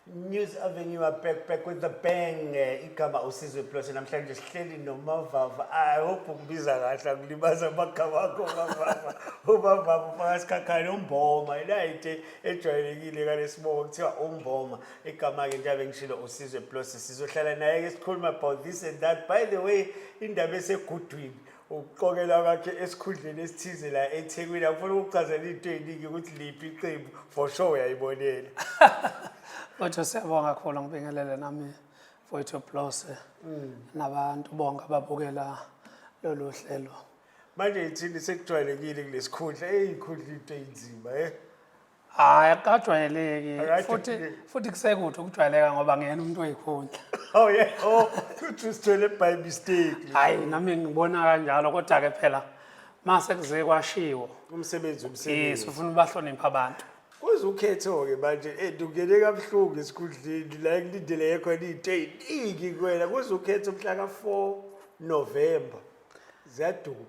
News Avenue are back back with the bang eh, igama usizwe plus namhlanje sihleli nomavava i hope ukubiza kahle akulibaza amagama akho mavava umavava ufaka sikhakhane umboma ilayite ejwayelekile kalesibongo kuthiwa umboma igama-ke njengabe ngishilo usizwe plus sizohlala naye-ke sikhuluma about this and that by the way indaba esegudwini ukuqokelwa kwakhe esikhundleni esithize la ethekwini akufuna ukuchazela into eyiningi ukuthi liphi iqembu for sure uyayibonela kodwa siyabonga kakhulu ngibingelele nami mfowethu blose mm. nabantu bonke ababukela lolu hlelo manje ithini sekujwayelekile kulesikhundla eyikhundla into eyinzima eh hayi akukajwayeleki Alright, futhi okay. futhi kusekuthi ukujwayeleka ngoba ngiyena umuntu oyikhundla Oh yeah. Oh, futhi usithole by mistake. hayi nami ngibona kanjalo kodwa-ke phela mase kuze kwashiwo Umsebenzi yes umsebenzi. ufuna ubahlonipha abantu Kuze ukhetho-ke manje eh, ndungene kabuhlungu esikhundleni la ngilindele yekho into ey'ningi kuwena kuze ukhethe umhla ka-four novemba ziyaduma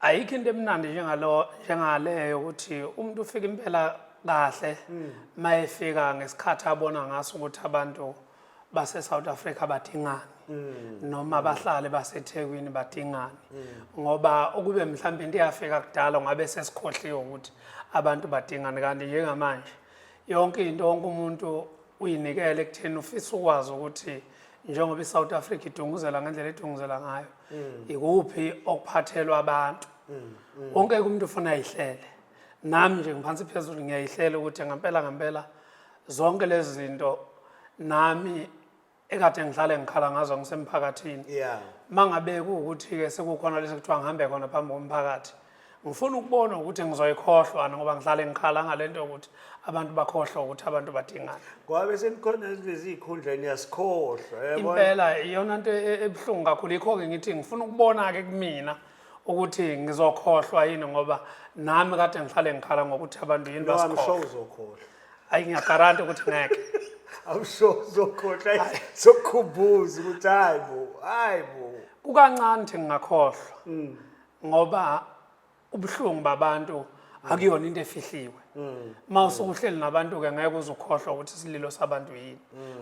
ayikho into emnandi njengalo njengaleyo ukuthi umuntu ufika impela kahle mm. mayefika ngesikhathi abona ngaso ukuthi abantu base South Africa badingani mm. noma bahlale baseThekwini badingani mm. ngoba ukube mhlawumbe into yafika kudala ngabe sesikhohliwe ukuthi abantu badingani kanti njengamanje yonke into wonke umuntu uyinikele ekutheni ufisa ukwazi ukuthi njengoba iSouth Africa idunguzela ngendlela edunguzela ngayo mm. ikuphi okuphathelwa abantu mm, mm. wonke umuntu ufuna ayihlele nami nje ngiphansi phezulu ngiyayihlela ukuthi ngempela ngempela zonke lezi zinto nami ekade ngihlale ngikhala ngazo ngisemphakathini yeah mangabe ukuthi ke sekukhona lesi kuthiwa ngihambe khona phambi komphakathi ngifuna ukubona ukuthi ngizoyikhohlwa ngoba ngihlale ngikhala ngale nto yokuthi abantu bakhohlwa ukuthi abantu badingana ngoba bese nikhona lezi ikhundla niyasikhohlwa impela iyona nto e-, ebuhlungu kakhulu yikho-ke ngithi ngifuna ukubona-ke kumina ukuthi ngizokhohlwa yini ngoba nami kade ngihlale ngikhala ngokuthi abantu yini basikhohlwa uzokhohlwa ayi ngiyagaranti ukuthi ngeke I'm sure uzokhohlwa sokhubuza ukuthi hayi bo hayi bo kukancane ukuthi ngingakhohlwa mm. ngoba ubuhlungu babantu akuyona into efihliwe uma usukuhleli nabantu ke ngeke uzukhohlwa ukuthi isililo sabantu yini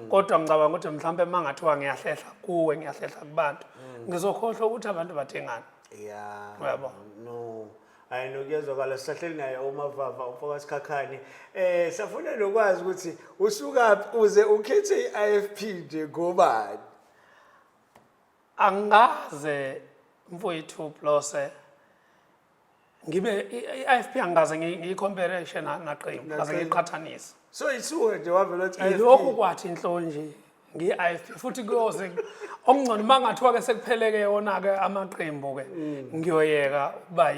kodwa ngicabanga ukuthi mhlawumbe uma ngathiwa ngiyahlehla kuwe ngiyahlehla kubantu ngizokhohlwa ukuthi abantu badingani ya Uyabo? no hayi nokuyezwakala sisahleli naye umavava umfoka sikhakhane eh safuna nokwazi ukuthi usukaphi uze ukhethe i-IFP nje ngobani angikaze mfowethu Blose ngibe i-IFP angikaze ngiyikhompare naqembu ngaze ngiqhathanise so isuke nje wavela ukuthi ilokhu kwathi inhlonje ngi-IFP futhi kuyoze okungcono uma ngathiwa ke sekupheleke yona-ke amaqembu ke mm. ngiyoyeka ukuba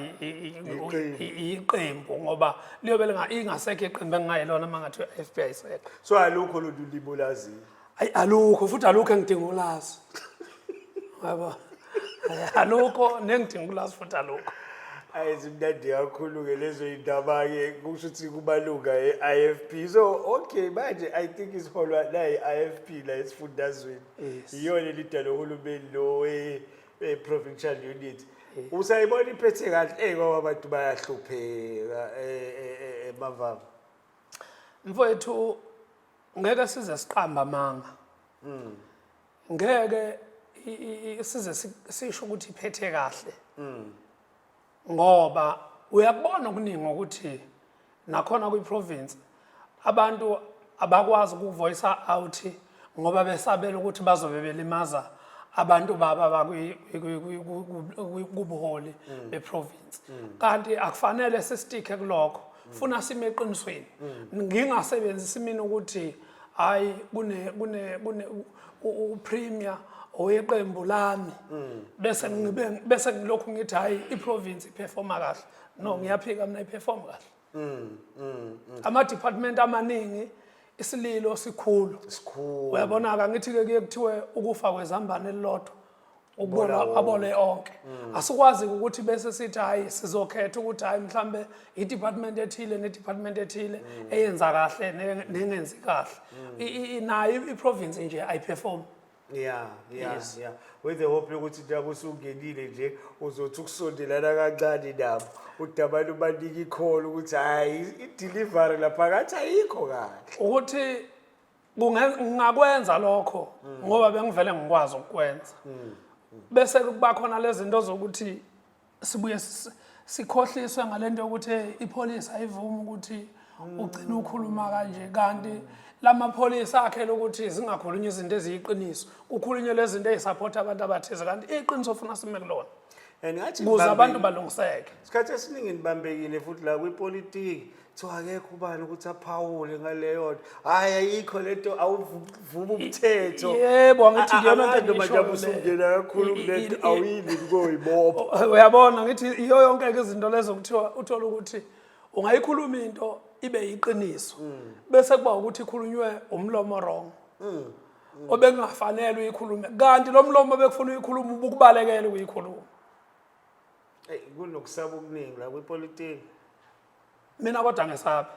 iqembu ngoba liyobe ingasekho iqembu engingayilona uma ngathiwa i-IFP ayisekho so alukho lolu libolaziyo ayi alukho futhi alukho engidinga ukulazi yabo alukho nengidinga ukulazi futhi alukho ayi zimnandi kakhulu-ke lezo yindaba-ke kusho ukuthi kumalunga e-i f p so okay manje i think isiholwa nayi-i f p la esifundazweni Yes. iyona elidala uhulumeni lo we- we-provincial unit usayibona iphethe kahle eyi kwaba abantu bayahlupheka eh, eh, eh, emavama mfowethu ngeke size siqamba amanga mm. ngeke size sisho ukuthi iphethe kahle mm. ngoba uyakubona okuningi ukuthi nakhona kwi-province abantu abakwazi ukuvoyisa out ngoba besabela ukuthi bazobe belimaza abantu baba bakubuholi mm. beprovince mm. kanti akufanele sistike kulokho funa sime eqinisweni ngingasebenzisi mina ukuthi hayi kune kune kune upremier oweqembu lami bese ngibe bese ngilokhu ngithi hayi iprovince iperforma kahle no ngiyaphika mina iperform kahle mm, mm, mm. ama department amaningi isililo sikhulu sikhulu uyabona ka ngithi ke kuthiwe ukufa kwezambane lilodwa ukubona abole onke mm. asikwazi ukuthi bese sithi hayi sizokhetha ukuthi hayi mhlambe i-department ethile ne-department ethile mm. eyenza kahle nengenzi kahle mm. nayo i-province nje ayiperform yeah yeah yes. yeah with the hope yokuthi nabo usungenile nje uzothi ukusondelana kancane nabo ukuthi abantu banika ikholo ukuthi hayi i-delivery lapha kathi ayikho kahle ukuthi Kunge- ngingakwenza lokho ngoba bengivele ngikwazi ukukwenza bese kuba khona lezi zinto zokuthi sibuye si- sikhohliswe ngale nto yokuthi "Hey, ipholisi ayivumi ukuthi ugcine ukhuluma kanje kanti la mapholisi akhele ukuthi zingakhulunywa izinto eziyiqiniso kukhulunywe lezi zinto ezisaphotha abantu abathize kanti iqiniso ofuna sime kulona and ngathi kuze abantu ngibambekile. balungiseke isikhathi esiningi nibambekile futhi la kwipolitiki kuthiwa akekho ubani ukuthi aphawule ngaleyo nto hhayi ayikho le nto awuvumi umthetho yebo angithi A- a- iyona nto abantu manje engiyishoyo le. abusungena kakhulu I- i- kule nto i- awuyini kukoyibopha uyabona ngithi iyo yonke-ke izinto lezo kuthiwa uthole ukuthi ungayikhuluma into ibe yiqiniso bese kuba ukuthi ikhulunywe umlomo wrong obekungafanele uyikhulume kanti lo mlomo obekufuna uyikhuluma ubukubalekele ukuyikhuluma Eyi, kunokusaba okuningi la kwipolitiki mina kodwa ngesabi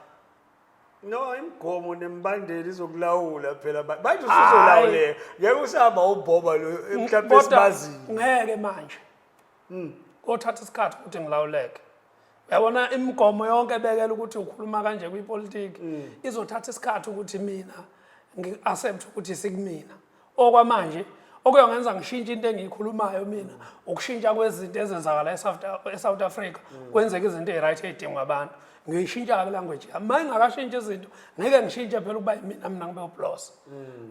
no imigomo nemibandela izokulawula phela ba- manje Hhayi. usuzolawuleka ngeke usahamba ubhoba lo eh, mhlawumbe Kodwa esibaziyo Hmm. ngeke manje kothatha isikhathi ukuthi ngilawuleke uyabona imigomo yonke ebekela ukuthi ukhuluma kanje kwipolitiki Hmm. izothatha isikhathi ukuthi mina ngi-accept ukuthi sikumina okwamanje okuyongenza ngishintshe into engiyikhulumayo mina ukushintsha kwezinto ezenzakala e-south africa kwenzeka izinto eyi-right ey'dingwa abantu ngiyishintsha-ke language yami ma ingakashintsha izinto ngeke ngishintshe phela ukuba imina mina ngibe ublose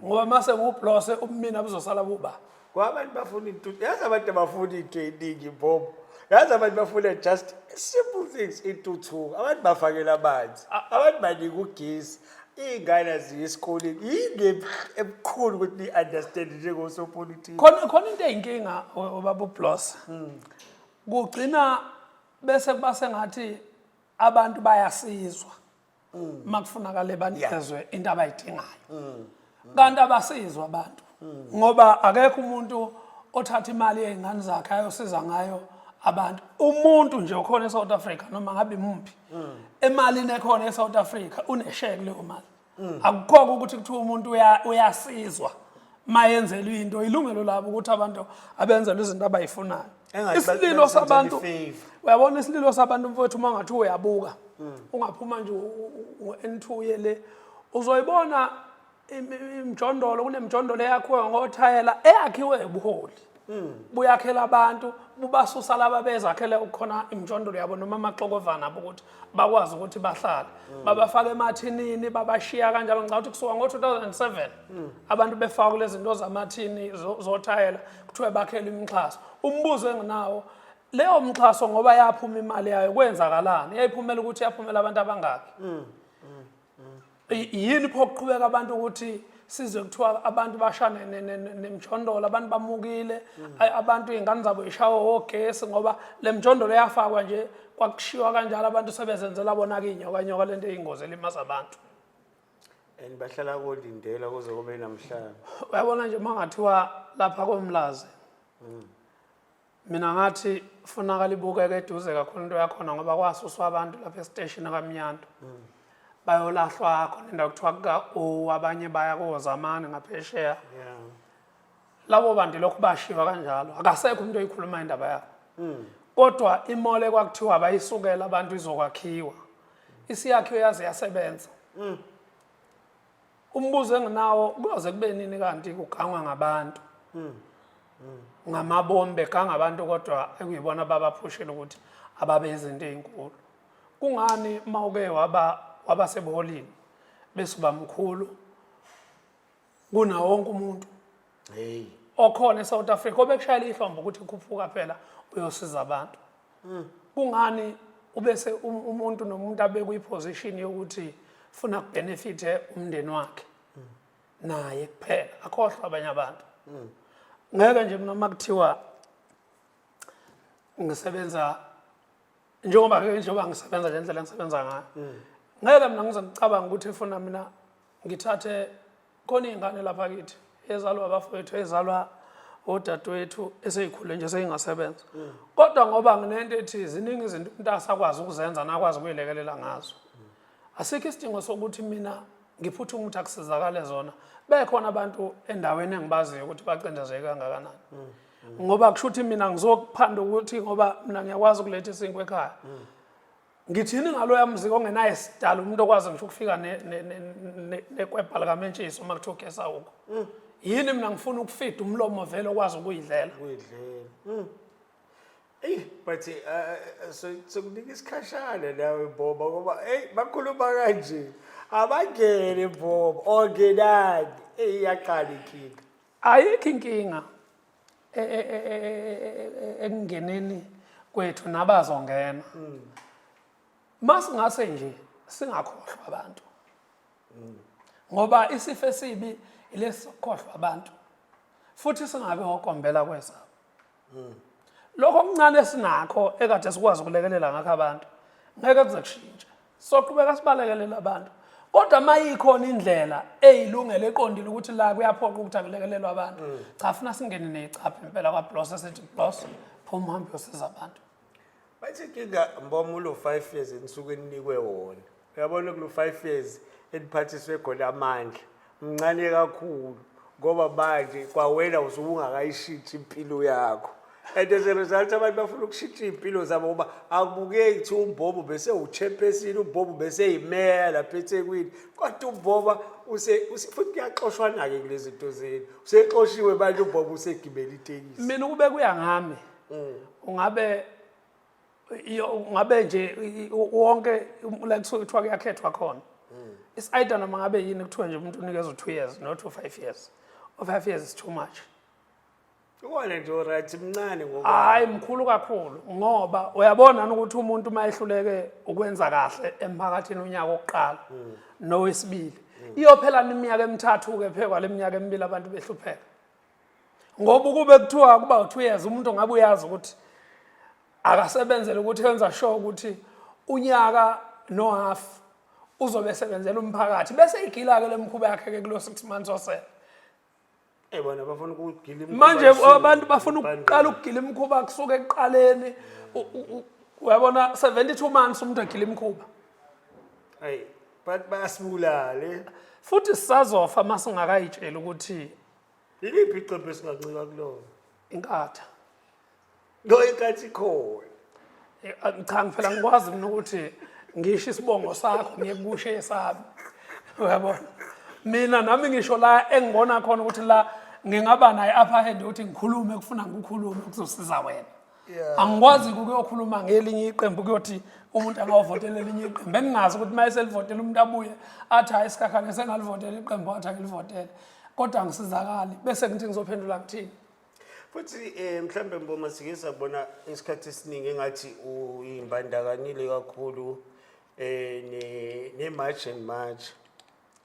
ngoba ma sengiwublose ubumina buzosala buba ngoba abantu bafuna into yazi abantu abafuna into eningi bobo yazi abantu bafuna just simple things intuthuko abantu bafakela amanzi abantu banika ugesi iy'ngane aziye esikoleni yini ebukhulu ukuthi ni-understand njengosopolitiki khona khona into eyinkinga obaba ublos hmm. kugcina bese kuba sengathi abantu bayasizwa uma hmm. kufunakale banikezwe into abayidingayo hmm. kanti abasizwa abantu ngoba akekho umuntu othatha imali yey'ngane zakhe ayosiza ngayo abantu umuntu nje okhona e-south africa noma ngabe muphi emalini ekhona e-south africa unesheke kuleyo mali akukhokho ukuthi kuthiwa umuntu uyasizwa mayenzelwe into ilungelo labo ukuthi abantu abenzelwe izinto abayifunayo isililo sabantu uyabona isililo sabantu mfowethu uma ngathi uyabuka ungaphuma nje ngo-n two yele uzoyibona imjondolo kunemjondolo eyakhiwe ngothayela eyakhiwe ubuholi hmm. buyakhela abantu bubasusa laba bezakhele ukukhona imjondolo yabo noma amaxokovana abo ukuthi bakwazi ukuthi bahlale hmm. babafake emathinini babashiya kanjalo ngicabanga ukuthi kusuka ngo-2007 hmm. abantu befaka kule zinto zamathini zothayela kuthiwe bakhele imixhaso umbuzo enginawo leyo mxhaso ngoba yaphuma imali yayo kwenzakalani yayiphumela ukuthi yaphumela abantu abangaki yini pho kuqhubeka abantu ukuthi size kuthiwa abantu bashane nemjondolo abantu bamukile abantu iy'ngane zabo yishawe wogesi ngoba le mjondolo yafakwa nje kwakushiwa kanjalo abantu sebezenzela bona-ke iy'nyokanyoka le nto eyingozi elimaza abantu and bahlala kolindela kuze kube namhlanje uyabona nje uma ngathiwa lapha komlazi mm. mina ngathi funakala ibukeke eduze kakhulu into yakhona ngoba kwasuswa abantu lapha esiteshini kamnyanto mm. bayolahlwa khona indawo kuthiwa kuka-o abanye baya kozamane ngaphesheya labo bantu lokhu bashiwa kanjalo akasekho umuntu oyikhuluma indaba yabo mm. kodwa imole kwakuthiwa bayisukela abantu izokwakhiwa isiyakhiwe yaze yasebenza mm. umbuzo enginawo kuyoze kube nini kanti kugangwa ngabantu hmm. Hmm. ngamabombe ganga abantu kodwa ekuyibona babaphushile ukuthi ababe izinto ezinkulu kungani uma uke waba waba sebuholini bese ubamkhulu kuna wonke umuntu hey okhona eSouth Africa obekushayela ihlombo ukuthi khuphuka phela uyosiza abantu hmm. kungani ubese um, umuntu nomuntu abekwe iposition yokuthi funa kubenefite umndeni wakhe hmm. naye kuphela akhohlwa abanye abantu hmm. ngeke nje mina uma kuthiwa ngisebenza njengoba njengoba ngisebenza nje indlela engisebenza ngayo ngeke mina ngize ngicabanga ukuthi funa mina ngithathe khona iy'ngane lapha kithi ezalwa abafowethu ezalwa odadewethu eseyikhule nje seyingasebenza kodwa ngoba nginento ethi ziningi izinto umuntu asakwazi ukuzenza nakwazi ukuyilekelela ngazo asikho isidingo sokuthi mina ngiphuthe umuthi akusizakale zona bekhona abantu endaweni engibaziyo ukuthi bacindezeke kangakanani ngoba kusho ukuthi mina ngizokuphanda ukuthi ngoba mina ngiyakwazi ukuletha isinkwa ekhaya ngithini ngaloya mzika ongenaye sidala umuntu okwazi ngisho ukufika nekwebha likamentshisi uma kuthiwa ugesa uko mm. yini mina ngifuna ukufida umlomo vele okwazi ukuyidlela mm. eyi but eh, eh, sokunika isikhashana nawe boba ngoba eyi bakhuluma kanje abangene boba ongenani eyi yaqala inkinga ayikho inkinga e, e, e, ekungeneni kwethu nabazongena mm. masingase nje singakhohlwa abantu mm. ngoba isifo esibi ilesi sokukhohlwa abantu futhi singabe ngokombela kwezabo mm. lokho okuncane esinakho ekade sikwazi ukulekelela ngakho abantu ngeke kuze kushintshe soqhubeka sibalekelele abantu kodwa uma ikhona indlela eyilungele eqondile ukuthi la kuyaphoqa ukuthi akulekelelwe abantu mm. cha funa singene neyicapha impela kwablos esithi blos phuma uhambe yosiza abantu Bathi inkinga mboma ulo 5 years enisuke eninikwe wona. Uyabona kulo 5 years eniphathiswe khona amandla. Mncane kakhulu ngoba manje kwawena usubungakayishinthi impilo yakho. And as a result abantu bafuna ukushintsha impilo zabo ngoba akubukeki ukuthi umbobo bese uchampesini umbobo bese yimeya lapha eThekwini kodwa umboba use use- futhi kuyaxoshwana-ke kulezi zinto zenu usexoshiwe manje umbobo usegibela itekisi mina ukube kuya ngami mm. ungabe ngabe nje wonke like so kuthiwa kuyakhethwa khona mm. it's either noma ngabe yini kuthiwa nje umuntu unikezwe 2 years not 5 years or 5 years is too much Uwona nje uright mncane ngoba hayi mkhulu kakhulu ngoba uyabona ukuthi umuntu uma ehluleke ukwenza kahle emphakathini unyaka oqala hmm. nowesibili hmm. iyophela iminyaka emithathu ke phekwa leminyaka emibili abantu behlupheka ngoba ukube kuthiwa kuba kuthiwa uyazi umuntu ngabe uyazi ukuthi akasebenzele ukuthi enza sure ukuthi unyaka nohalf uzobe esebenzela umphakathi bese igila-ke le mkhuba yakhe-ke kulo six months osele Eh, manje abantu bafuna ukuqala ukugila imikhuba kusuke ekuqaleni uyabona 72 months umuntu agila imikhuba ayi but basibulale futhi sisazofa masingakayitsheli ukuthi Iliphi iqembu esingancika kulona? Inkatha. No inkathi khona. Eh, ah, Cha ngifela ngikwazi mina ukuthi ngisho isibongo sakho ngiyekushe esami. Uyabona? Mina nami ngisho la engibona khona ukuthi la ngingaba naye upper hand ukuthi ngikhulume kufuna ngikhulume kuzosiza wena. angikwazi ukuyokhuluma ngelinye iqembu kuyothi umuntu angawovotela elinye iqembu beningazi ukuthi uma eselivotela umuntu abuye athi hayi isikhakhane sengalivotela iqembu athi angilivotele kodwa angisizakali bese ngithi ngizophendula ngithini futhi um eh, mhlawumbe mboma sike sabona isikhathi esiningi engathi uyimbandakanyile kakhulu um ne-march and march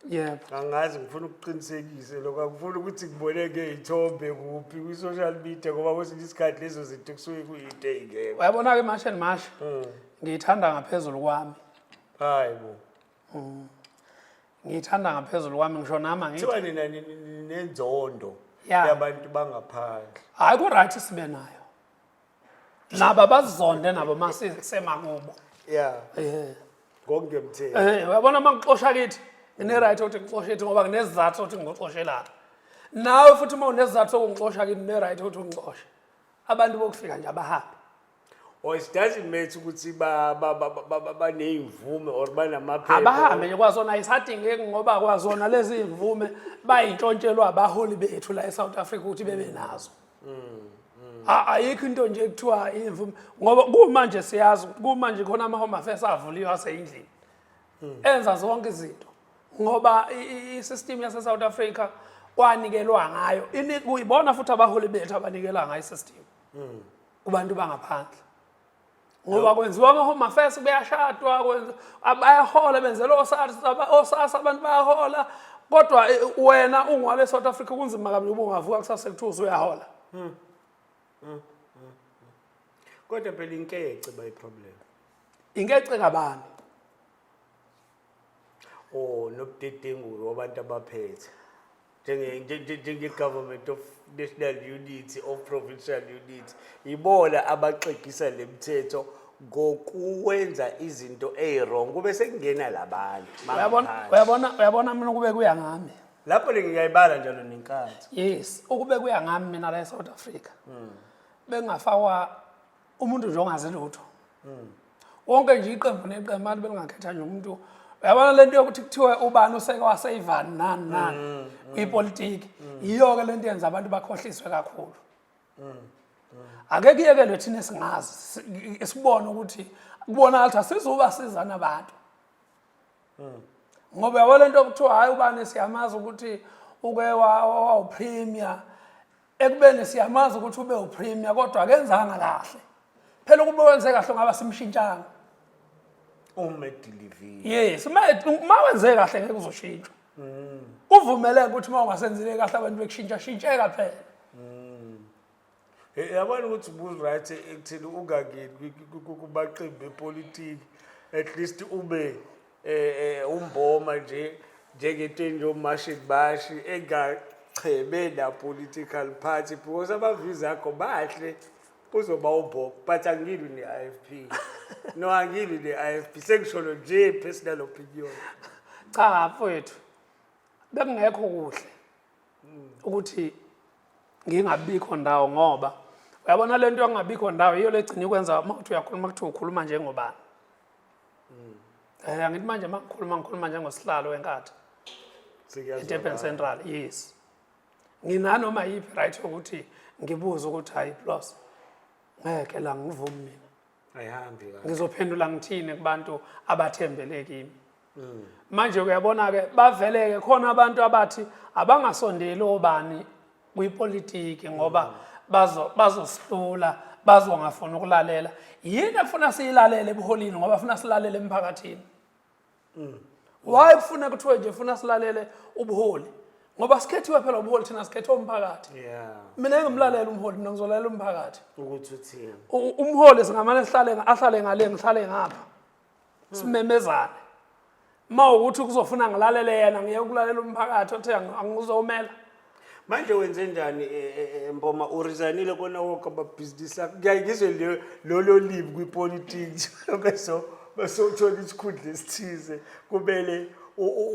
yebo angazi ngifuna ukuqinisekise lokho angifuni ukuthi ngiboneke iy'thombe kuphi kwi-social media ngoba kwesinye isikhathi lezo zinto kusuke kuyinto ey'ngekho uyabona-ke mash and mash Hmm. ngiyithanda ngaphezulu kwami hayi bo ngiyithanda ngaphezulu kwami ngisho nami angithi kuthiwa nina ni- ni- ni- nenzondo Ya. yabantu bangaphandle hhayi ku-right sibe nayo laba bazonde nabo masisemakubo yeah eh konke mtheni eh uyabona mangixosha kithi ngine right ukuthi ngixoshe kithi ngoba nginezizathu ukuthi ngixoshe lapha nawe futhi uma unezizathu sokungixosha kithi ngine right ukuthi ungixoshe abantu bokufika nje abahambe or it doesn't matter ukuthi ba ba ba ba- ba- baneyimvume or banamaphepha abahambe nje kwazona ayisadingeki ngoba kwazona lezi imvume bayintshontshelwa abaholi bethu la eSouth Africa ukuthi bebe nazo ayikho into nje kuthiwa imvume ngoba kumanje siyazi kumanje khona ama-home affairs avuliwe aseyindlini enza zonke izinto ngoba i-system yase-south africa kwanikelwa ngayo kuyibona futhi abaholi bethu abanikela ngayo i-system kubantu bangaphandle ngoba kwenziwa ama-home affairs kuyashadwa bayahola benzela osasa abantu bayahola kodwa eh, wena ungwale e-south africa kunzima kabi uba ungavuka kusase kuthiwa usuyahola hmm. Hmm. Hmm. kodwa phela inkece bayiproblem inkece kabani oh nobudedengu wabantu abaphethe njenge-government of national unity of provincial unity yibona abaxegisa le mthetho ngokuwenza izinto eyi-wrong kube sekungena labanye uyabona mina kube kuya ngami lapho le ngiyayibala njalo nenkathi yes ukube kuya ngami mina la e-south africa hmm. bengafakwa umuntu nje ongazi lutho wonke nje iqembu neqembu abantu belingakhetha nje umuntu uyabona lento yokuthi kuthiwe ubani useke waseyivani nani nani mm, mm. kwipolitiki mm. yiyo-ke lento yenza abantu bakhohliswe kakhulu ake kuyekelwe thina esingazi sibone ukuthi kubonakala ukuthi asizuba sizana abantu ngoba yabo lento kuthiwa hhayi ubani siyamazi ukuthi uke wawupremier ekubeni siyamazi ukuthi ube upremier kodwa akenzanga kahle phela ukube wenze kahle ngaba simshintshanga umedilivi yes uma uma wenze kahle ngeke uzoshintshwa mm. uvumeleke ukuthi uma ungasenzile kahle abantu bekushintsha shintsheka phela mm. eh, yabona ukuthi uburight ekuthini ungangeni kubaqembu bepolitiki at least ube eh, eh, umboma nje njengetenje omashi bashi engacheme na-political party because abavizi akho bahle uzoba ubob but angilwi ne-i f p no angilwi ne-i f p sengisholo nje personal opinion cha mfowethu bekungekho kuhle ukuthi ngingabikho ndawo ngoba uyabona le nto yokungabikho ndawo yiyo legcina ikwenza uma kuthi uyakhuluma kuthiwa ukhuluma njengobani um angithi manje mangikhuluma ngikhuluma njengosihlalo wenkatha edurban central yes nginanoma yiphi right yokuthi ngibuze ukuthi hayi plus ngeke la ngivumi mina ayihambi la ngizophendula ngithini kubantu abathembele kimi mm. manje uyabona ke baveleke khona abantu abathi abangasondeli obani kuyipolitiki ngoba bazo bazosihlula bazongafuna ukulalela yini ekufuna siyilalele ebuholini ngoba funa silalele emphakathini mm. why kufuna kuthiwe nje funa silalele ubuholi ngoba sikhethiwe phela ubuholi thina sikhethe umphakathi mina engimlalela umholi mina ngizolalela umphakathi ukuthi uthini umholi singamane sihlale ahlale ngale ngihlale ngapha simemezane uma ukuthi kuzofuna ngilalele yena ngiye ukulalela umphakathi othe angizomela manje wenze njani eh, eh, eh, mboma urizanile kona woke amabhizinisi akho kuyaye ngizwe lolo libi kwipolitiki beso besothola isikhundla esithize kumele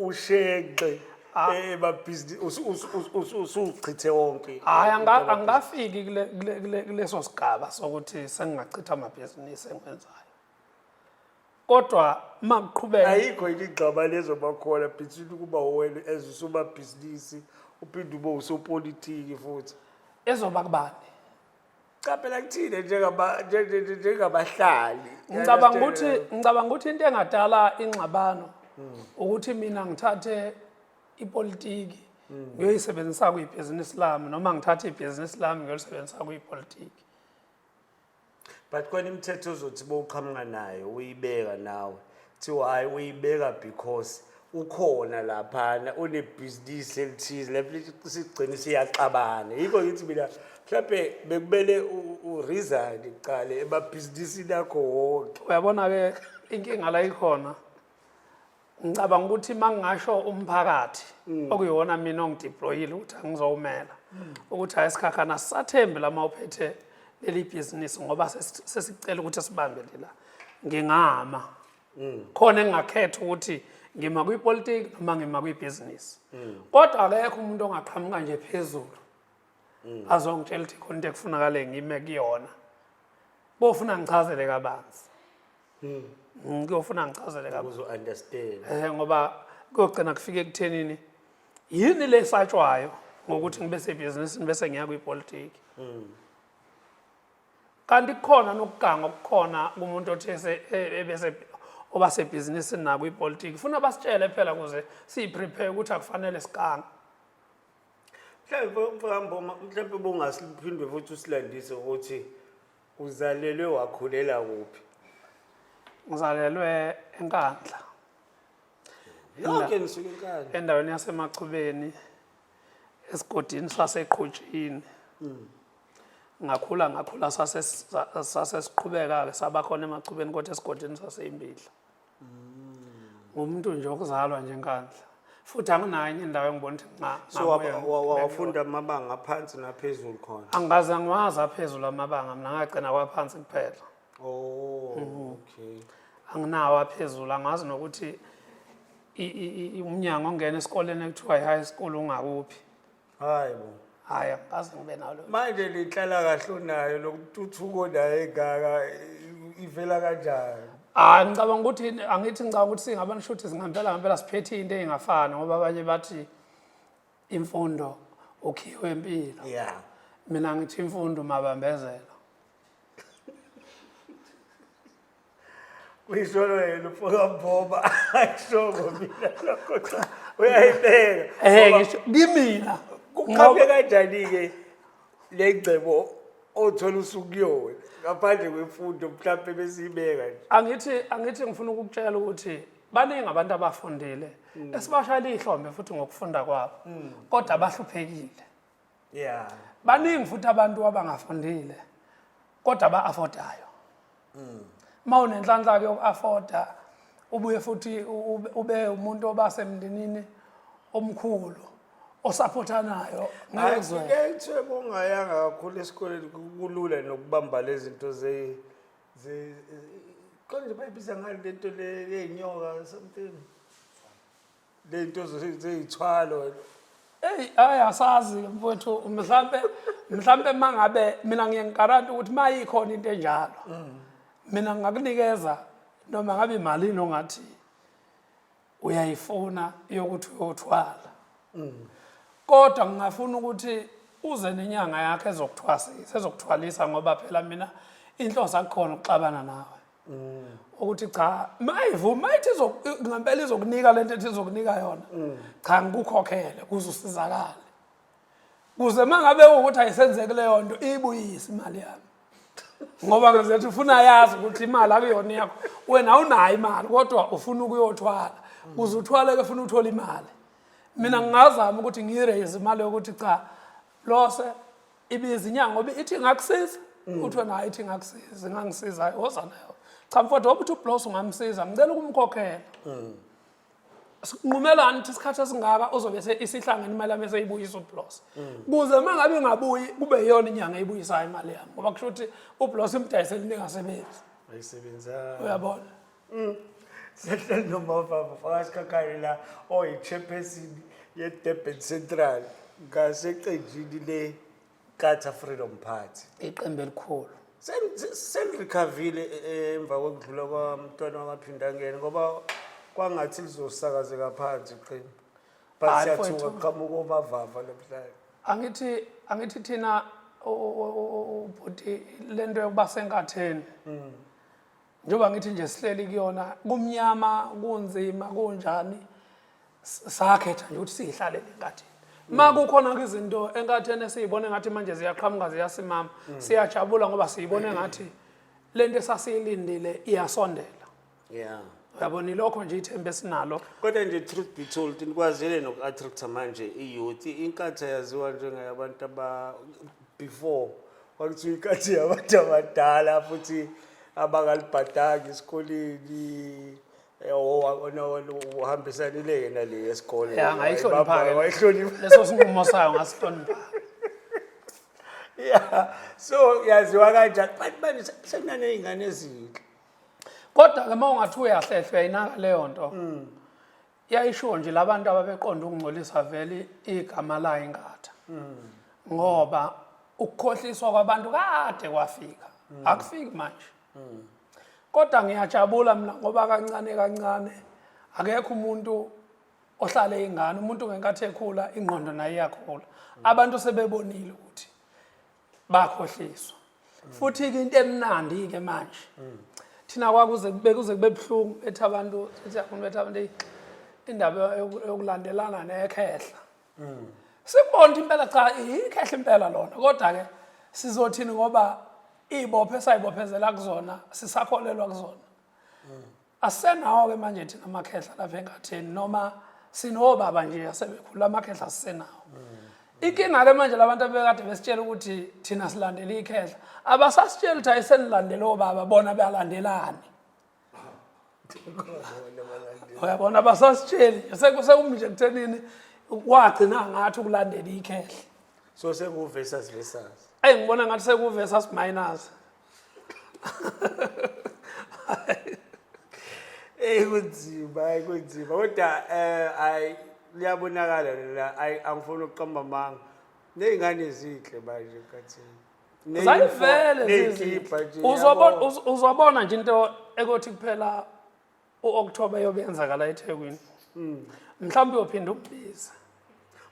ushenxe ah. emabhizinisi usuchithe wonke hhayi angikafiki kuleso sigaba sokuthi sengingachitha amabhizinisi engiwenzayo kodwa uma kuqhubeka ayikho iligxaba lezobakhona between ukuba wena as usomabhizinisi uphinde ube usopolitiki futhi ezoba kubani cha phela kuthina njengaba- nje- nje- nje- njengabahlali ngicabanga ukuthi ngicabanga ukuthi into engadala ingxabano ukuthi mina ngithathe ipolitiki ngiyoyisebenzisa kuyibhizinisi lami noma ngithathe ibhizinisi lami ngiyolisebenzisa kuyipolitiki but khona imithetho ozothi bowuqhamuka nayo uyibeka nawe kuthiwa hhayi uyibeka because ukhona laphana unebhizinisi elithize lapho sigcine siyaxabana yikho ngithi mina mhlawumbe bekumele uresign kuqale emabhizinisini akho wonke uyabona-ke inkinga la ikhona ngicabanga ukuthi uma ngingasho umphakathi mm. okuyona mina ongideployile ukuthi angizowumela mm. ukuthi hayi sikhakhana sisathembi lama uphethe leli bhizinisi ngoba sesicela ukuthi sibambe lela ngingama mm. khona engingakhetha ukuthi ngima kwipolitiki noma ngima kwibhizinisi kodwa akekho umuntu ongaqhamuka nje phezulu azongitshela ukuthi khona into ekufunakale ngime kuyona bofuna ngichazele kabanzi mm. mm, kuyofuna ngichazele kabuzounderstand um eh, ngoba kuyogcina kufike ekuthenini yini le satshwayo ngokuthi ngibe sebhizinisini bese ngiya kwipolitiki mm. kanti kukhona nokuganga okukhona kumuntu othi e, ebese oba sebhizinisini nako ipolitiki funa basitshele phela kuze siyiprepare ukuthi akufanele siganga mhlawumbe mfakamboma mhlawumbe bongasiphindwe futhi usilandise ukuthi Uzalelwe wakhulela kuphi? Ngizalelwe eNkandla. Yonke nisuke enkani. Endaweni yasemachubeni esigodini saseqhutshini. Ngakhula ngakhula sase sase siqhubeka ke sabakhona emachubeni kodwa esigodini saseyimbidla. ngumntu nje okuzalwa nje nkandla futhi anginayo enye indawo engibona ukuthi nca so wa- ngabuya wa- wa- wafunda amabanga aphansi naphezulu khona angaze ngiwazi aphezulu amabanga mina ngagcina kwaphansi kuphela oh Mm-hmm. okay anginawo aphezulu angazi nokuthi i- i- i- umnyango ongena esikoleni ekuthiwa i-high school ungakuphi hayi bo hayi angikaze ngibe nalo manje lenhlala kahle onayo lokututhuko naye engaka i- ivela kanjani hayi Ah, ngicabanga ukuthi angithi ngicabanga ukuthi singabani shuthi singempela ngempela siphethe into engafani ngoba abanye bathi imfundo ukhiwe impilo ya mina ngithi imfundo mabambezela uyisolo yena ufoka mboba ayishoko mina lokho cha uyayibeka ehe Ngoba ngisho kimina kuqhamuke kanjani-ke le ngcebo othola usukuyona ngaphandle kwemfundo mhlawumpe besiyibeka nje angithi angithi ngifuna ukukutshela ukuthi baningi abantu abafundile esibashayela ihlombe futhi ngokufunda kwabo kodwa abahluphekile yeah baningi futhi abantu abangafundile kodwa ba affordayo mm. uma unenhlanhla ke yoku-afforda ubuye futhi ube umuntu oba semndenini omkhulu osaphothanayo ngezwe ngeke bongayanga kakhulu esikoleni kulula nokubamba lezi zinto ze ze konje bayibiza ngani lento le yenyoka something le nto zeyithwalo eyi hayi asazi mfowethu mhlampe mhlampe uma ngabe mina ngiye ngikaranta ukuthi uma yikhona into enjalo mina ngakunikeza noma ngabe imalini ongathi uyayifuna yokuthi uyothwala kodwa ngingafuna ukuthi uze nenyanga yakhe ezokuthwasisa ezokuthwalisa ngoba phela mina inhloso akukhona ukuxabana nawe ukuthi cha mayivuma mayithi ngempela izokunika lento ethi izokunika yona cha ngikukhokhele kuze usizakale kuze mangabe ukuthi ayisenzeki leyo nto ibuyise imali yami ngoba ngizethi ufuna yazi ukuthi imali akuyona yakho wena unayo imali kodwa ufuna ukuyothwala kuze uthwale ke funa uthole imali mina ngingazama ukuthi ngiraise imali yokuthi cha lose ibiza inyanga ngoba ithi ingakusiza mm. kuthiwa nayo ithi ingakusiza ingangisiza woza nayo cha mfowethu woba uthi ublos ungamsiza ngicela ukumkhokhela mm. nqumelani ukuthi isikhathi esingaka uzobe isihlangene imali yami eseyibuyisa ublos mm. kuze uma ngabe ingabuyi kube yiyona inyanga eyibuyisayo imali yami ngoba kusho ukuthi ublos imdayisele into engasebenzi uyabona Sihleli nomava mfakazi kakari la oyichairperson ye-durban central ngaseqenjini le-qatar freedom party iqembu elikhulu Sen- se- selirikhavile eh, emva kokudlula kwamntwana wamaphindangene ngoba kwangathi lizosakazeka phansi iqembu but Hayi, siyathuka mfowethu. kuqhamuka omavava namhlanje angithi angithi thina o- o- o- o- o- ubhuti lento yokuba senkatheni njengoba ngithi nje sihleli kuyona kumnyama kunzima kunjani sakhetha nje ukuthi siyihlale lenkathini ma kukhona izinto enkathini esiyibone ngathi manje ziyaqhamuka ziyasimama mm. siyajabula ngoba siyibone ngathi lento esasiyilindile iyasondela yeah uyabona ilokho nje ithemba esinalo kodwa nje truth be told nikwazile noku-attracta manje i-youth inkathi yaziwa njengayabantu aba before Kwakuthi uyinkathi yabantu abadala futhi abangalibhadanga esikoleni eh, o- o- no- no- uhambisanile yena le esikole Ya, ngayihlonipha-ke. wayihlonipha leso sinqumo sayo ngasihlonipha Yeah. so yaziwa kanjani but manje se- sekunaney'ngane ezinhle kodwa-ke uma ungathi uyahlehlwa yinaka leyo nto yayishiwo nje labantu ababeqonda ukungcolisa vele igama layo ingatha ngoba ukukhohliswa kwabantu kade kwafika akufiki manje kodwa ngiyajabula mina ngoba kancane kancane akekho umuntu ohlale ingane umuntu ngenkathi ekhula ingqondo naye iyakhula abantu sebebonile ukuthi bakhohliswa futhi ke into emnandi ke manje thina kwakuze bekuze kube buhlungu ethi abantu ethi abantu bethi abantu indaba yokulandelana nekhehla sikubona impela cha ikhehla impela lona kodwa ke sizothini ngoba ibophe sayibophezela kuzona sisakholelwa kuzona Asenawo-ke manje thina amakhehla lapha engatheni noma sinobaba nje asebekhula amakhehla sisenawo inkinga-ke manje labantu abekade besitshela ukuthi thina silandela ikhehla abasasitshela ukuthi ayisenilandela obaba bona beyalandelani uyabona abasasitsheli sekumnje kuthenini wagcina ngathi ukulandela ikhehla so sekuversus versus eyi ngibona ngathi sekuversus minus eyi kunzima ayi kunzima kodwa um ayi liyabonakala lela ayi angifuni ukuqamba amanga ney'ngane ezinhle manje khathini zayivele uzobona nje into ekothi kuphela u-October yobe yenzakala eThekwini hmm. mhlawumbe uyophinde ukubiza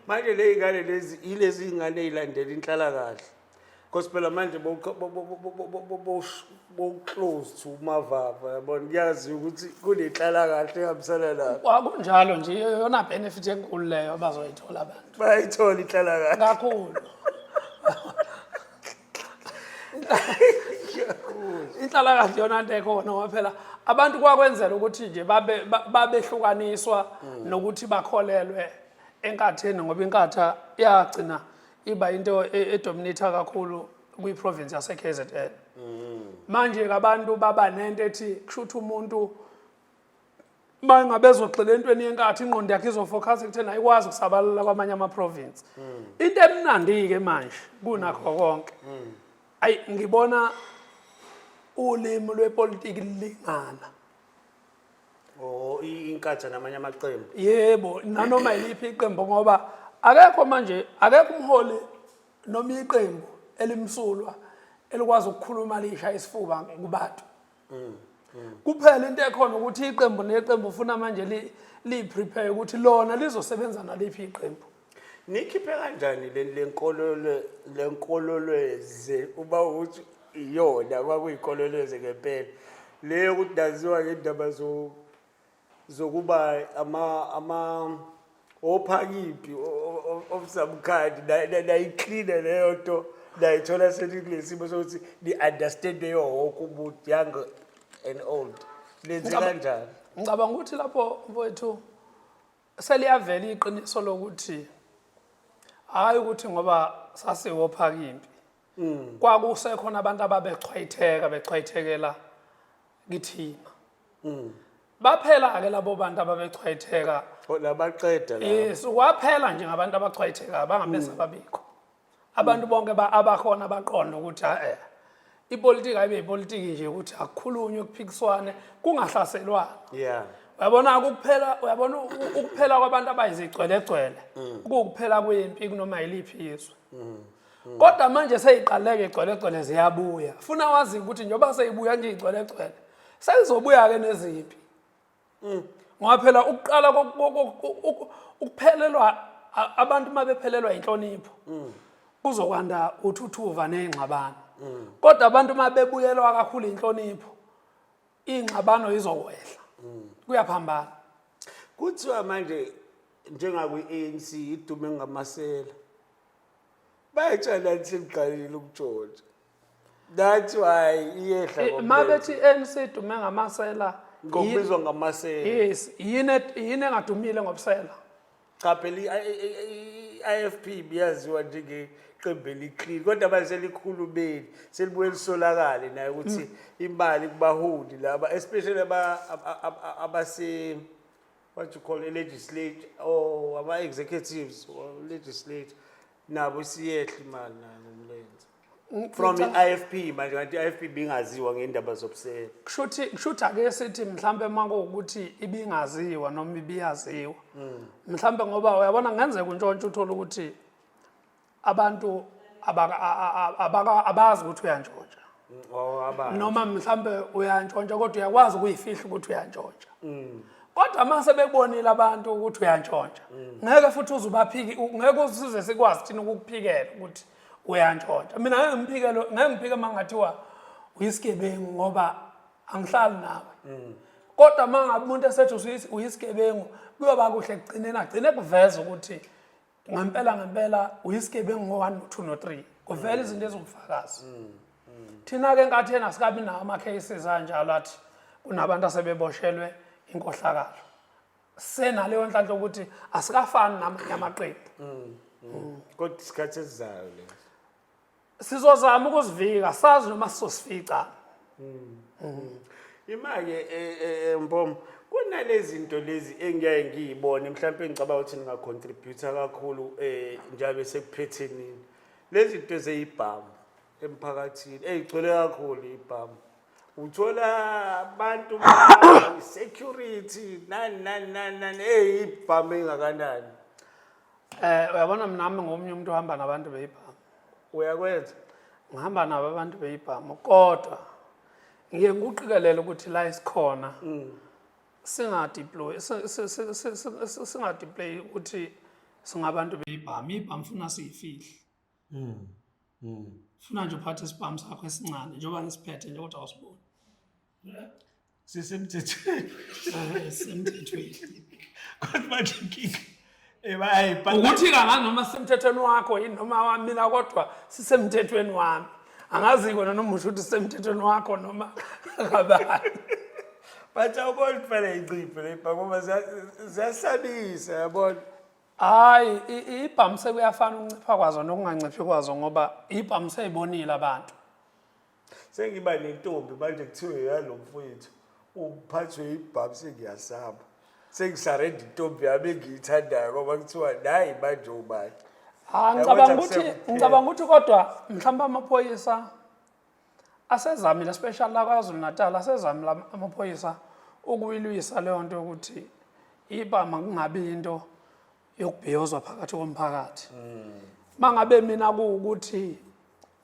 manje le ingane lezi ilezi ingane ezilandela inhlala kahle because phela manje bowuclose to umavava yabona kuyazi ukuthi kunenhlala kahle ehambisana lapho kwakunjalo nje yona benefit enkulu leyo abazoyithola abantu bayayithola inhlala kahle kakhulu inhlalakahle yona nto ekhona ngoba phela abantu kwakwenzela ukuthi nje babe- ba- babehlukaniswa Mm. nokuthi bakholelwe enkatheni ngoba inkatha yagcina iba into e- edominatha kakhulu kwiprovince yase-kzn Mm. manje-ke abantu baba nento ethi kusho ukuthi umuntu uma ingabe ezogxila entweni yenkathi ingqondo yakhe izofokhasa ekutheni ayikwazi ukusabalala kwamanye amaprovinsi hmm. into emnandi-ke manje kunakho konke hmm. ayi ngibona ulimi lwepolitiki lilingana oh inkathi namanye amaqembu yebo nanoma yiliphi iqembu ngoba akekho manje akekho umholi noma iqembu elimsulwa elikwazi ukukhuluma lisha isifuba kubantu mm, mm. kuphela into ekhona ukuthi iqembu neqembu ufuna manje liyi-prepare ukuthi lona lizosebenza naliphi iqembu nikhiphe kanjani le nkololweze uba ukuthi iyona kwakuyikololweze ngempela leyo ukuthi ndaziwa ngendaba zokuba ama ama ophakiphi of some kind nayicleana leyo nto nayithola selikulesimo sokuthi ni-understande yo woke umuntu young and old lenze kanjani ngicabanga ukuthi lapho mfowethu seliyavela iqiniso lokuthi hhayi ukuthi ngoba sasiwophaka impi mm. kwakusekhona abantu ababechwayitheka bechwayithekela kithina mm. baphela-ke labo bantu ababechwayitheka oh, labaqeda yes kwaphela nje ngabantu abachwayithekayo bangamese mm. ababikho abantu bonke abakhona baqonda ukuthi a-e eh, ipolitiki ayibe yipolitiki nje ukuthi akukhulunywe kuphikiswane kungahlaselwana yeah uyabona ukuphela uyabona ukuphela kwabantu abayizigcwelegcwele mm. kuwukuphela kwempi kunoma yiliphi izwe mm. Hmm. Kodwa manje seyiqaleke igcwelegcwele ziyabuya. Funa wazi ukuthi njengoba seyibuya nje igcwelegcwele seyizobuya ke nezimpi. Hmm. Ngoba phela ukuqala ukuphelelwa abantu mabephelelwa inhlonipho. Hmm. Kuzokwanda uthuthuva nezingxabano. Kodwa abantu mabebuyelwa kakhulu inhlonipho ingxabano izokwehla. Kuyaphambana. Kuthiwa manje njengakwi-ANC idume ngamasela. bayatshela nje ngiqalile ukujoja that's why iyehla eh, uma bethi ANC idume ngamasela ngokubizwa ngamasela yes yini yini engadumile ngobusela cha phela i-IFP biyaziwa njenge qembu eliqili kodwa manje selikhulumeli selibuye lisolakale naye ukuthi mm. imali kubaholi laba especially abase what you call a legislature or ama executives or legislature nabo siyehla imali nayo ngomlenze Ng- from ngicabanga- i-IFP manje kanti i-IFP bingaziwa ngendaba zobusela kushuthi kushuthi ake sithi mhlambe makuwukuthi ibingaziwa noma ibiyaziwa mhlambe ngoba uyabona ngenzeka untshontsha uthole ukuthi abantu abazi ukuthi uyantshontsha oh, noma mhlawumbe uyantshontsha kodwa uyakwazi ukuyifihla ukuthi uyantshontsha mm. kodwa uma sebebonile abantu ukuthi uyantshontsha mm. ngeke futhi uze ubaphike ngeke usize sikwazi thina ukukuphikela ukuthi uyantshontsha mina ngeke ngiphikele ngeke ngiphike uma ngathiwa uyisigebengu ngoba angihlali nawe mm. kodwa uma ngabe umuntu esethi uyisigebengu kuyoba kuhle kugcineni agcine kuveza ukuthi ngempela ngempela uyisigebengu ngo-1 no-2 no-3 kuvela izinto eziwubufakazi mm, mm. thina-ke nkathi yena sikabi nawo ama-cases anjalo athi kunabantu asebeboshelwe inkohlakalo senaleyo nhlanhla ukuthi asikafani namanye amaqembu mm, kodwa isikhathi esizayo le sizozama ukuzivika sazi noma sizosifica mm. mm. imake e, e, e, mbom kunalezinto lezi engiyaye ngiyibone mhlawumbe ngicabanga ukuthi ningacontributor kakhulu um njalo sekuphethenini lezinto ezeyibhamu emphakathini eyigcwele kakhulu ibhamu uthola abantu security nani nani nani nani eyibhamu engakanani Eh uyabona mina nami ngomunye umuntu ohamba nabantu beyibhamu. Uyakwenza. Ngihamba nabo abantu beyibhamu kodwa ngiye ngikuqikelele ukuthi la isikhona mm. singadeploy singadeploy ukuthi singabantu beyibhamu ibhamu funa siyifihle. Mm. Mm. Funa nje uphathe isibhamu sakho esincane njengoba ngisiphethe nje kodwa awusiboni. sisemthethweni Ah, semthethweni kodwa manje inkinga eh bayayibhala ukuthi kanganoma sisemthethweni wakho yini noma wamina kodwa sisemthethweni wami angazi kona noma usho ukuthi sisemthethweni wakho noma kabani but awubona kufanele inciphe le bhaka ngoba ziya- ziyasabisa yabona hayi i- i- ibhamu sekuyafana ukuncipha kwazo nokunganciphi kwazo ngoba ibhamu seyibonile abantu sengiba nentombi manje kuthiwe yalo mfowethu uphathwe yibhabu sengiyasaba sengisarenda intombi yami engiyithandayo ngoba kuthiwa nayi manje ubani Ah ngicabanga ukuthi ngicabanga ukuthi kodwa mhlawumbe amaphoyisa asezamile special la kwaZulu Natal asezamile amaphoyisa ukuyilwisa leyo nto ukuthi ibama kungabi into yokubhiyozwa phakathi komphakathi mm. mangabe mina kuwukuthi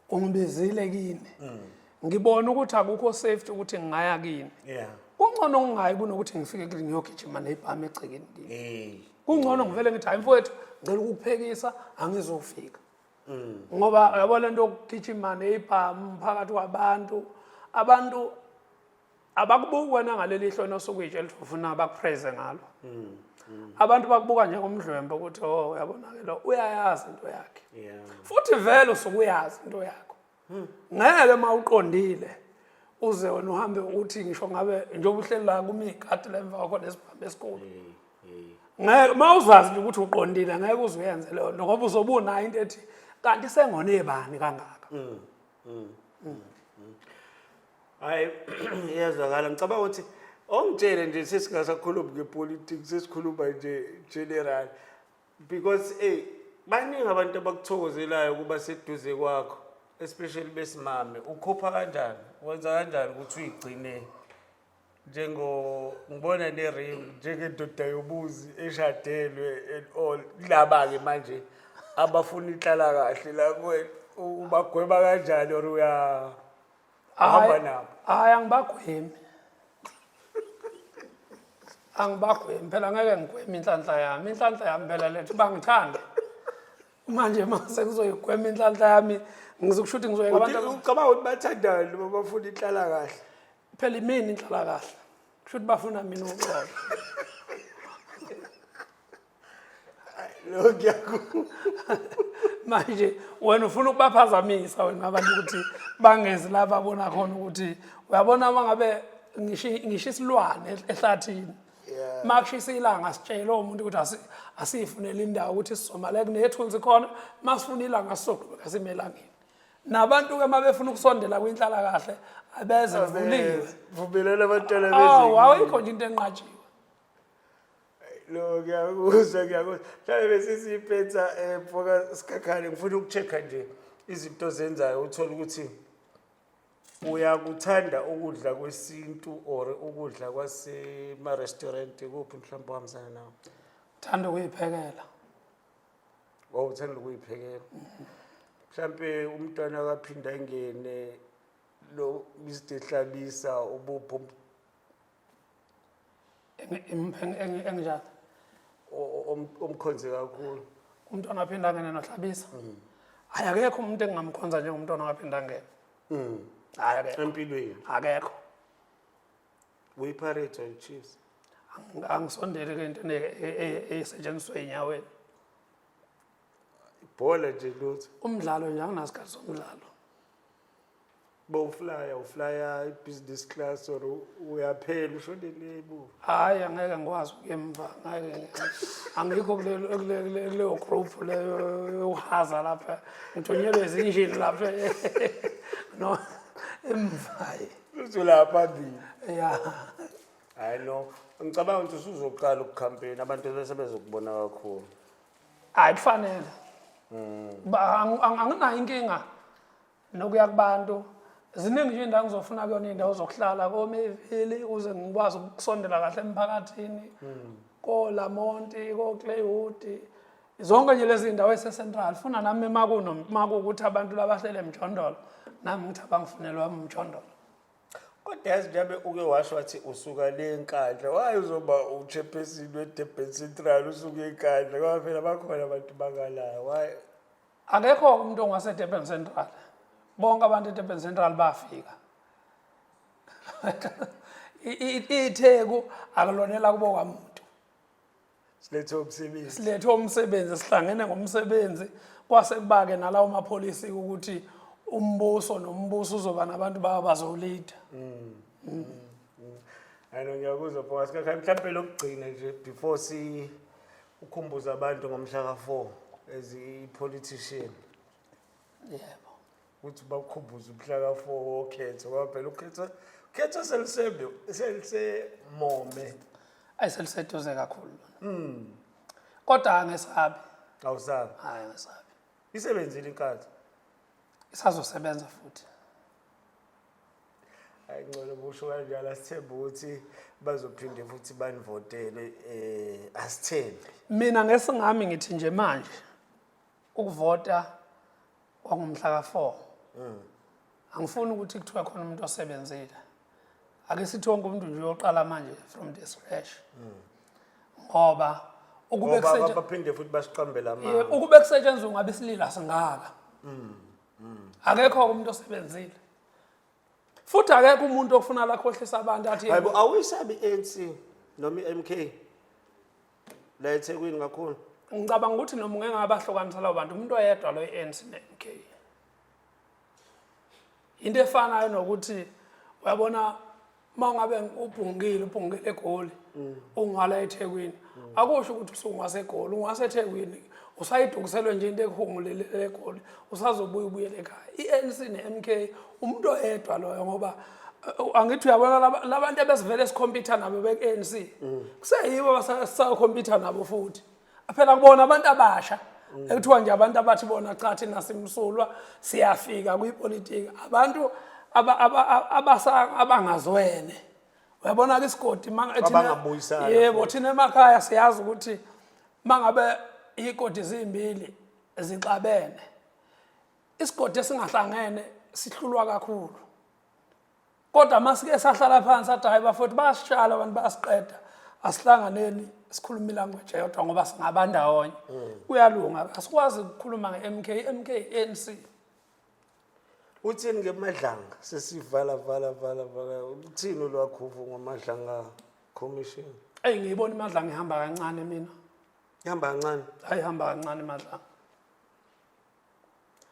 ungibizile kini mm. ngibona ukuthi akukho safety ukuthi ngingaya kini yeah kungcono ngingayi kunokuthi ngifike kini ngiyogijima nebhami egcekeni kini hey kungcono ngivele ngithi hayi mfowethu ngicela ukukuphekisa angizofika mm. ngoba yabo lento yokugijima nebhamu phakathi kwabantu abantu abakubuki wena ngaleli ihlo nosukwitshe elifuna bakupraise ngalo mm, mm. abantu bakubuka njengomdlwembe ukuthi o oh, uyabonake lo uyayazi into yakhe futhi vele usuke uyazi into yakho hmm. ngeke uma uqondile uze wena uhambe uthi ngisho ngabe njengoba uhleli la kumigadi la emva kwakho nesibhambe esikhulu ngeke uma uzazi nje ukuthi uqondile ngeke uze uyenze leyo nto ngoba uzobe unayo into ethi kanti sengone bani kangaka mm, hayi iyazwakala ngicabanga ukuthi ongitshele nje sesingasakhulumi ngepolitics sesikhuluma nje general because ey baningi abantu abakuthokozelayo ukuba seduze kwakho especially besimame ukhupha kanjani wenza kanjani ukuthi uyigcine njengo ngibona ne-ring njengendoda yobuzi eshadelwe and all kulaba-ke manje abafuna ihlala kahle la kuwena ubagweba kanjani or uya Uhamba Hayi- nabo. hayi angibagwemi angibagwemi phela ngeke ngigweme inhlanhla yami inhlanhla yami phela lethi bangithande manje mase kuzoyigwema inhlanhla yami ngizokusho ukuthi ngizoyeka abantu aba- ucabanga ukuthi bathandani uma bafuna ihlala kahle phela imini inhlalakahle kusho ukuthi bafuna mina uxolo Lo ngiyaku. manje wena ufuna ukubaphazamisa wena abantu ukuthi bangezi la babona khona ukuthi uyabona uma ngabe ngisho ngisho isilwane ehlathini Yeah. makushisa ilanga sitshele umuntu ukuthi asi- asiyifunele indawo ukuthi sizomala kunethunzi khona masifuna ilanga sizoqhubeka sime elangeni nabantu-ke uma befuna ukusondela kwinhlalakahle abeze kuvuliwe Vumelana abantwana awu bezwe. awuyikho nje into enqatshiwe lo ngiyakuzwa ngiyakuzwa mhlawumbe besisiyiphetha um mfoka sikhakhane ngifuna uku-check-a nje izinto ozenzayo uthole ukuthi uyakuthanda ukudla kwesintu or ukudla kwasema-restaurant kuphi mhlawumbe ohambisana nawo thanda ukuyiphekela waw uthanda ukuyiphekela mhlawumbe umntwana akaphinda engene lo mr hlabisa ubupho Eng- eng- eng- eng- enginjani o- om- omkhonze kakhulu umntwana waphindangene nohlabisa hayi akekho umuntu engingamkhonza njengomntwana waphindangene Mm. hayi akekho empilweni akekho uyipirates or chiefs Ang- angisondeli ke into ne- e- e- esetshenziswa ey'nyaweni ibhola nje lutho umdlalo nje anginasikhathi somdlalo bowuflaya uflaya i-business class or uyaphela ushonele emuva hhayi angeke ngikwazi ukuya emva ngeke angikho kulelo- kule- kule- kuleyo group leyo yokuhaza lapha ngithunyelwe zinjini lapha no emvaye uzolaya phambili ya hhayi no ngicabanga ukuthi usuzoqala ukukhampeyina abantu bese bezokubona kakhulu hayi kufanele Ba- ang- ang- anginayo inkinga nokuya kubantu ziningi nje indawo ngizofuna kuyona indawo zokuhlala komevili ukuze ngikwazi ukusondela kahle emphakathini kolamonti koclaywood zonke nje lezi ndawo esecentral funa nami makuno makuwukuthi abantu labahlele emjondolo nami ngithi abangifunelwa umjondolo kodwa yazi njabe uke washo wathi usuka le nkandla waye uzoba uchairperson wedurban central usuke enkandla ngoba phela bakhona abantu bakalayo waye akekho umuntu ongasedurban central bonke abantu edurban central bafika itheku akulonela kubo kwamuntu silethe umsebenzi silethe umsebenzi sihlangene ngomsebenzi kwase kubake nalawo mapholisi ukuthi umbuso nombuso uzoba nabantu bawo bazolida mm. mm. ayino ngiyakuzwa bhonga sikakhayi mhlawumpe lokugcina nje before si ukhumbuza abantu ngomhla ka-four as i-politician yebo ukuthi bakukhumbuze umhla ka-4 wokhetho ngoba phela ukhetho ukhetho selusembe selisemome ayi seliseduze kakhulu lona kodwa angesabi awusabi hayi angesabi isebenzile inkathi isazosebenza futhi hayi ngcono kusho kanjalo asithembe ukuthi bazophinde futhi banivotele um asithembe mina ngesingami ngithi nje manje ukuvota kwangomhla ka-four mm. angifuni ukuthi kuthiwa khona umuntu osebenzile ake sithi wonke umuntu nje uyoqala manje from the scratch mm. ngoba ukube baphinde futhi basiqambela amanga ukube kusetshenzwa ngabesilila singaka mm, mm. akekho umuntu osebenzile futhi akekho umuntu ofuna lakhohlisa abantu athi hayibo awisabi ANC noma iMK la ethekwini kakhulu ngicabanga ukuthi noma ungeke ngabahlukanisa labo bantu umuntu oyedwa lo i-anc ne-mk into efanayo nokuthi uyabona uma ngabe ubhungile ubhungile egoli mm. ungala ethekwini mm. akusho ukuthi usungwasegoli ungwasethekwini usayidukiselwe nje into ekuhungulelele egoli usazobuya ubuyele ekhaya i-anc ne-mk umuntu oyedwa loyo ngoba eh, angithi uyabona labantu ebesivele sikhompyutha nabo be-ANC mm. kuseyibo basakhompyutha nabo futhi phela kubona abantu abasha mm. ekuthiwa nje abantu abathi bona cha thina simsulwa siyafika kwipolitiki abantu abangazwene uyabona ke isigodi yebo thina emakhaya siyazi ukuthi mangabe ikodi zimbili zixabene isigodi esingahlangene sihlulwa kakhulu kodwa uma sike sahlala phansi athi hhayi bafowethu bayasitshala abantu bayasiqeda asihlanganeni sikhuluma ilanguage eyodwa ngoba singaba ndawonye mm. kuyalunga asikwazi ukukhuluma nge-mk i-mk i-anc uthini ngemadlanga sesivala vala vala vala uthini olwakhuvu ngomadlanga commission eyi ngiyibona imadlanga ihamba kancane mina ihamba kancane hayi ihamba kancane imadlanga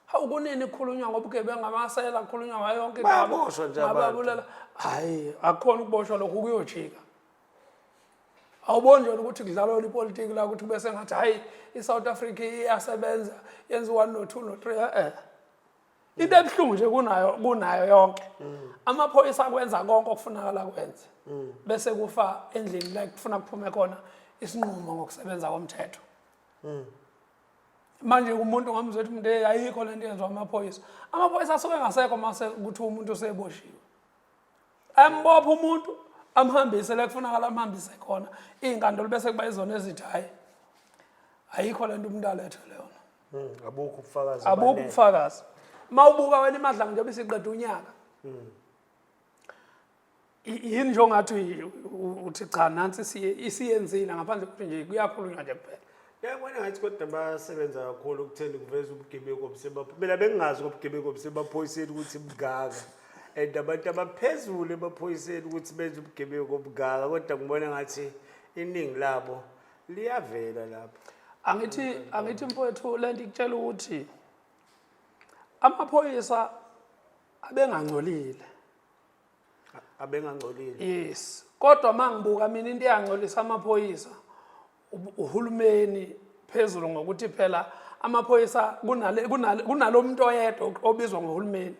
hawu kunini kukhulunywa ngobugebengu amasela kukhulunywa ngayo yonke bayaboshwa nje ababulala hayi akukhona ukuboshwa lokhu kuyojika awuboni nje ukuthi kudlalwa ipolitiki la ukuthi kube sengathi hayi i-south africa iyasebenza yenza u-one no-two no-three e-e into ebuhlungu nje kunayo kunayo yonke amaphoyisa akwenza konke okufunakala kwenze bese kufa endlini la kufuna kuphume khona isinqumo ngokusebenza komthetho manje umuntu ngamzwe ukuthi mntu ayikho le nto yenziwa amaphoyisa amaphoyisa asuke engasekho mase ukuthi umuntu useboshiwe ambopha umuntu amhambise la kufunakala amhambise khona iy'nkantolo bese kuba izona ezithi hhayi ayikho le nto umuntu alethwe leyona hmm, abukho ubufakazi abukho ubufakazi uma ubuka wena imadlanga njengoba isiqeda unyaka hmm. yini nje ongathi uthi cha nansi isiyenzile ngaphandle kokuthi nje kuyakhulunywa nje kuphela yabona ngathi kodwa basebenza kakhulu ukutheni kuveza ubugebengu obusebaphoyiseni mina bengingazi kobugebengu obusebaphoyiseni ukuthi bungaka and abantu abaphezulu emaphoyiseni ukuthi benze ubugebengu obungaka kodwa ngibona ngathi iningi labo liyavela lapho angithi angithi mfowethu le nto ikutshela ukuthi amaphoyisa abengangcolile abengangcolile yes kodwa mangibuka mina into eyangcolisa amaphoyisa uhulumeni phezulu ngokuthi phela amaphoyisa kunalo muntu oyedwa obizwa ngohulumeni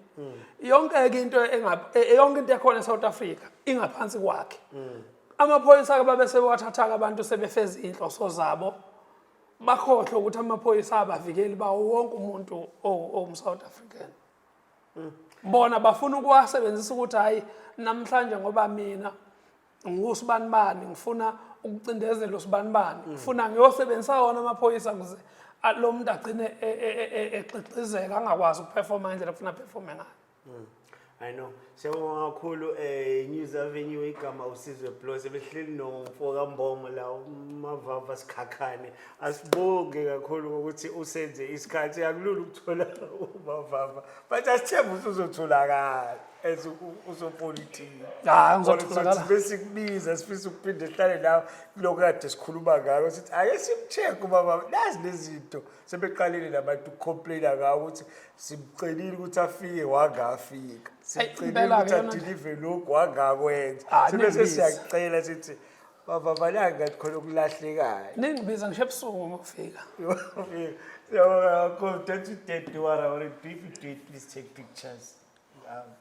yonke-ke into e, yonke into ekhona e-south africa ingaphansi kwakhe amaphoyisa-ke babe sebewathatha-ke abantu sebefeza iy'nhloso zabo bakhohlwe ukuthi amaphoyisa abavikeli bawo wonke umuntu owumsouth african bona bafuna ukuwasebenzisa ukuthi hhayi namhlanje ngoba mina ngusibanibani ngifuna ukucindezela usibanibani mm. ngifuna ngiyosebenzisa wona amaphoyisa kuze lo muntu agcine e, e, e, exexizeka angakwazi ukuperforma ngendlela kufuna aperforme ngayo mm. i know Siyabonga kakhulu eh News Avenue igama usizwe Blos ebehleli nomfo kaMbomo la umavava sikhakhane asibonge kakhulu ukuthi usenze isikhathi akulula ukuthola umavava but asithemba ukuthi uzotholakala as usopolitiki hayi ngizotholakala bese kubiza sifisa ukuphinde sihlale nawe lokho kade sikhuluma ngako sithi ake simcheck ubaba nazi lezinto sebeqalile nabantu complaina ka ukuthi simcelile ukuthi afike wangafika simcelile ukuthi adelive lokhu wangakwenza ah, sebese siyacela sithi baba balanga ngathi khona okulahlekayo ningibiza ngisho ebusuku uma ufika siyabonga kakhulu don't you dare do what I want to do if you do it please take pictures out